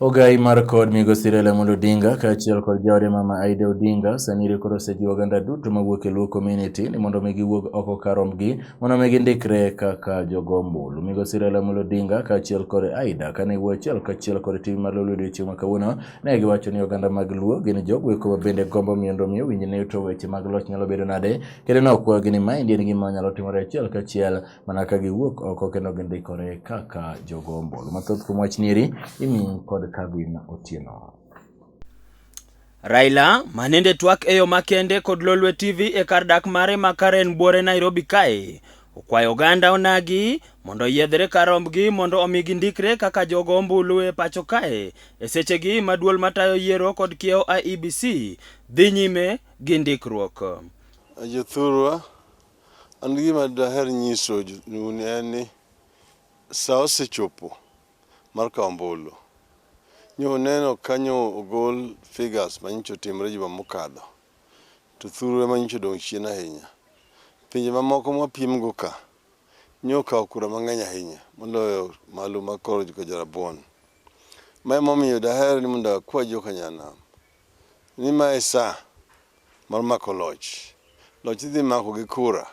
Ogai mar kod migosi Raila Amolo Odinga kaachiel kod jaode mama Aida Odinga sani rikoro osejiwo oganda duto mawuok e Luo community ni mondo mi giwuog oko karomgi mondo mi gindikre kaka jogo ombulu. Migosi Raila Amolo Odinga kaachiel kod Aida kane wuo achiel kachiel kod TV mar Lolwe odiochieng' ma kawuono ne giwacho ni oganda mag Luo gin jogo eko mabende gombo mondo mi owinj ne to weche mag loch nyalo bedo nade Kendo ne okwagi ni maendi en gima nyalo timore achiel kachiel mana ka giwuok oko kendo gindikore kaka jogo ombulu. Mathoth kuom wach nieri imi kod Kevin Otieno. Raila ma nende twak e yo makende kod Lolwe TV e kar dak mare ma Karen Buore Nairobi kae okwayo oganda onagi mondo oyiedhre kar rombgi mondo omi gindikre kaka jogo ombulu e pacho kae e sechegi ma duol matayo yiero kod kiewo IEBC dhi nyime gi ndikruok. Jothurwa, an gima daher nyiso un en ni sa osechopo mar kawo ombulu. Nyo neno kanyo ogol figures manyicho timre juma mokadho, to thurwa manyicho dong' chien ahinya. Pinje mamoko mwapimgo ka, nyo kawo kura mang'eny ahinya moloyo malu ma koro joka Jorabuon. Ma emomiyo daher ni mondo akwa joka Nyanam Ni ma e sa mar mako loch. Loch idhi mako gi kura.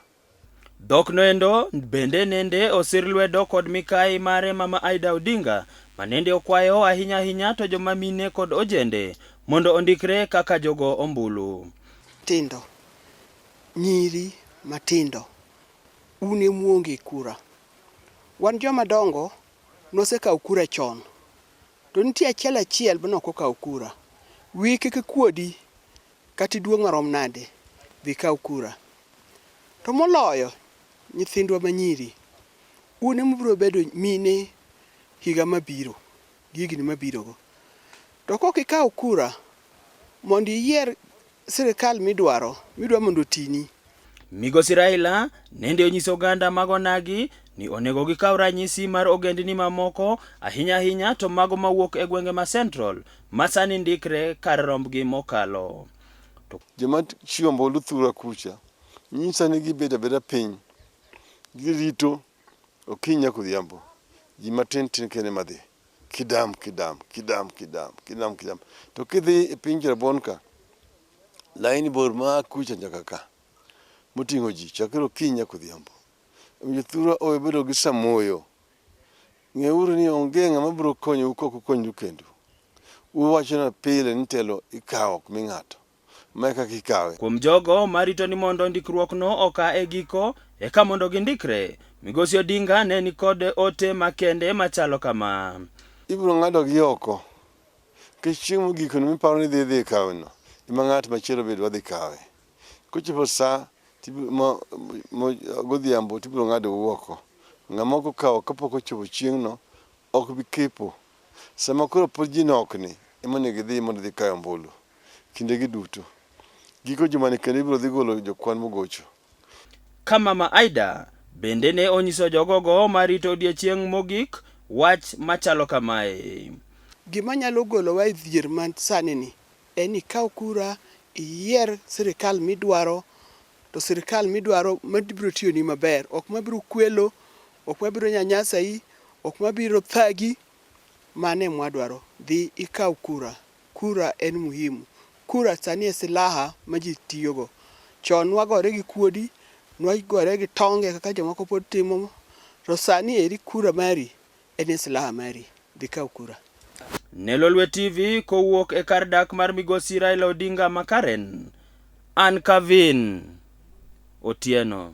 Dhok no endo bende nende osir lwedo kod mikai mare mama Aida Odinga ma nende okwayo ahinya ahinya to joma mine kod ojende mondo ondikre kaka jogo ombulu. Tindo, nyiri matindo un e muonge kura. Wan joma dongo nosekawo kura chon. To nitie achiel achiel ma ok okaw kura. Wiyi kik ikuodi kata iduong' marom nade, dhi ikaw kura. To moloyo nyithindwa ma nyiri, un ema ubiro bedo mine higa mabiro gi higni mabirogo. To ka ok ikaw kura Mondo iyier sirkal midwaro, midwa mondo otini. Migosi Raila nende onyiso oganda mag onagi ni onego gikaw ranyisi mar ogendni mamoko ahinya ahinya to mago mawuok e gwenge ma Central ma sani ndikre kar rombgi mokalo. To... Joma chiwo ombulu thura kucha nyisa ni gibet abeda piny girito okinyi nyaka odhiambo, ji matin tin kende madhi. Kidam kidam kidam kidam kidam kidam. To kidhi e piny Rabon ka, laini bor ma kucha nyaka ka moting'o ji chakre okinyi nyaka odhiambo. Omiyo thurwa owe bedo gi samoyo. Ng'euru ni onge ng'ama biro konyou kok ukonyoru kendu. Uwachona pile ni telo ikawo ok mi ng'ato. ma kaka ikawe. Kuom jogo marito ni mondo ndikruokno oka e giko eka mondo gindikre, Migosi Odinga ne ni kod ote makende machalo kama. Ibiro ng'adogi oko nikech chieng' mogikono miparo ni idhi idhi kaweno ema ng'at machielo bed wadhi kawe. Kochopo sa godhiambo tibiro ng'adou oko. Ng'ama ok okawo kapok ochopo chieng'no Ok bi kepo. Sama koro pod ji nok ni ema onego idhi mondo idhi kayo ombulu. Kinde gi duto. Giko jumani kendo ibiro dhi golo jokwan mogocho. Ka Mama Ida bende ne onyiso jogogo ma rito odiechieng' mogik wach machalo kamae. Gima nyalo golowa e dhier man sani ni en ni ikaw kura, iyier sirikal midwaro to sirkal midwaro mabiro tiyoni maber, ok mabiro kwelo, ok mabiro nyanyasai, ok mabiro thagi. Mano e mwadwaro. Dhi ikaw kura. Kura en muhimu. Kura sani e silaha ma ji tiyogo. Chon nwagore gi kuodi, nwagore gi tonge kaka jomoko pod timo, to sani eri kura mari En e silaha mari, dhi kaw kura. Ne Lolwe TV kowuok e kar dak mar migosi Raila Odinga ma Karen, an Kavin Otieno.